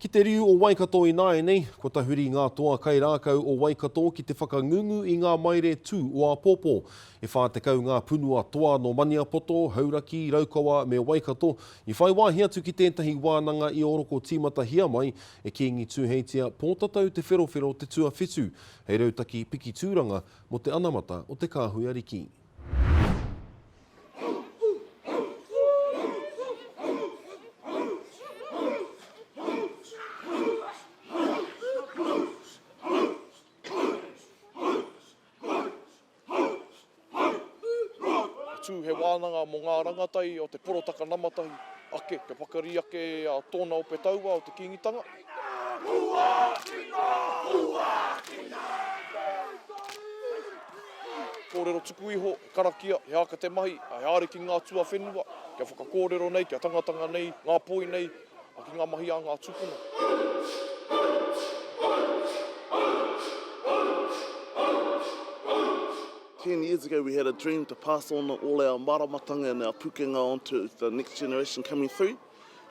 Ki te riu o Waikato ināianei, kua tahuri ngā toa kai rākau o Waikato ki te whakangungu i ngā maire tū o āpōpō. E 40 ngā punua toa nō Maniapoto, Hauraki, Raukawa me Waikato i whai wāhi atu ki tētahi wānanga i oroko tīmatahia mai e Kīngi Tūheitia Pōtatau Te Wherowhero te tuawhitu hei rautaki piki tūranga mō te anamata o te kāhui ariki. tū he wānanga mō ngā rangatahi o te porotaka namatahi ake kia pakari ake tōna ope taua o te Kīngitanga. Kōrero tuku iho, karakia, he āka te mahi, he āriki ngā tuawhenua, kia whakakōrero nei, kia tangatanga nei, ngā poi nei, ki ngā mahi a ngā tūpuna.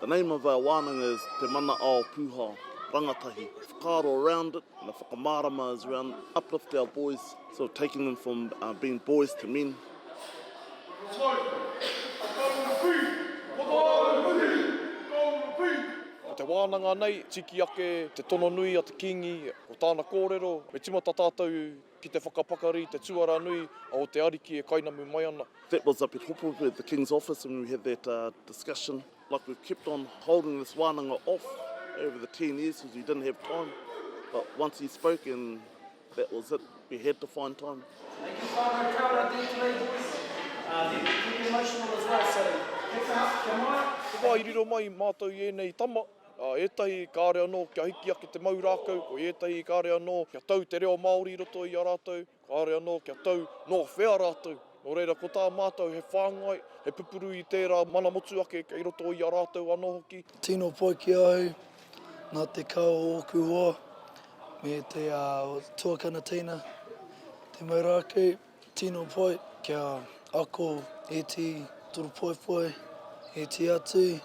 The name of our wānanga is Te Mana Ao Pūhao, Rangatahi. Whakaaro around it, and the whakamārama is around uplift our boys, sort of taking them from being boys to men. Ko te wānanga nei, tikiake te tono nui a te Kīngi, ko tāna kōrero, me tīmata tātou Ki te whakapakari i te tuara nui o te Ariki e kainamu mai ana. That was up at Hopuhopu at the King's office and we had that uh, discussion like we've kept on holding this wānanga off over the 10 years because we didn't have time but once he spoke and that was it we had to find time Thank you whānau kia ora thank you late voice uh, thank you for being emotional as well so thanks for help kia mai Ko wā i riro mai mātou i ēnei tama. I ētahi kāore anō kia hiki ake te mau rākau, ko i ētahi kāore anō kia tau te reo Māori i roto i a rātou, kāore anō kia tau nō whea rātou. Nō reira, ko tā mātou he whāngai, he pupuru i tērā mana motuhake kei roto i a rātou anō hoki. Tino pai ki ahau ngā tekau o ōku hoa me te tuakana teina, te mau rākau. Tino poi kia ako e ti turu poipoi e ti atu.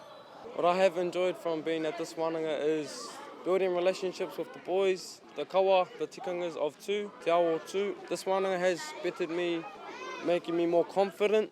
What I have enjoyed from being at this wananga is building relationships with the boys, the kawa, the tikangas of tu, te ao o tu. This wananga has bettered me, making me more confident.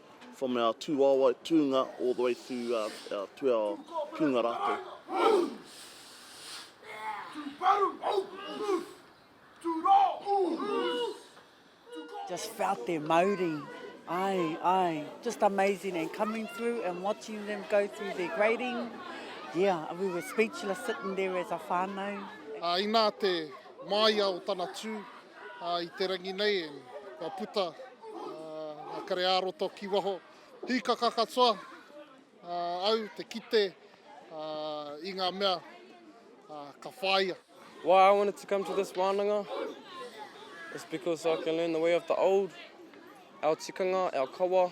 from our tūwaewae tūnga all the way to our, our, to our kunga rātou. Just felt their mauri. Ai, ai. Just amazing and coming through and watching them go through their grading. Yeah, we were speechless sitting there as a whānau. Uh, inā te māia o tana tū, I te rangi nei kua puta nga kare ā-roto ki waho. Hīkaka katoa au te kite i nga mea ka whāia. Why I wanted to come to this wānanga is because I can learn the way of the old, our tikanga, our kawa.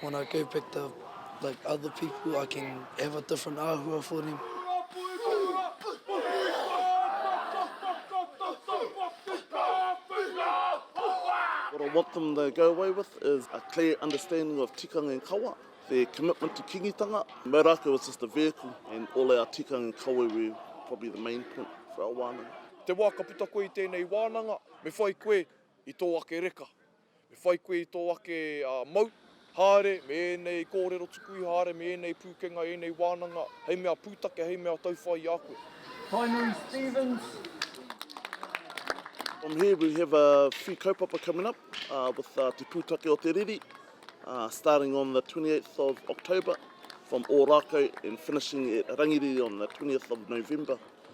When I go back to like other people I can have a different ahua for them. What I want them to go away with is a clear understanding of tikanga and kawa, their commitment to kingitanga. Mea rākau is just a vehicle and all our tikanga and kawa we probably the main point for our wānanga. Te wā ka puta koe i tēnei wānanga, me whai koe i tō ake reka. Me whai koe i tō ake mau, haere me ēnei kōrero tuku iho, haere me ēnei pūkenga, ēnei wānanga, hei mea pūtake, hei mea tauwhai i a koe. Tainui Stephens. From here we have a few kaupapa coming up with Te Pūtake o te Riri, starting on the 28th of October from Ōrākau and finishing at Rangiriri on the 20th of November.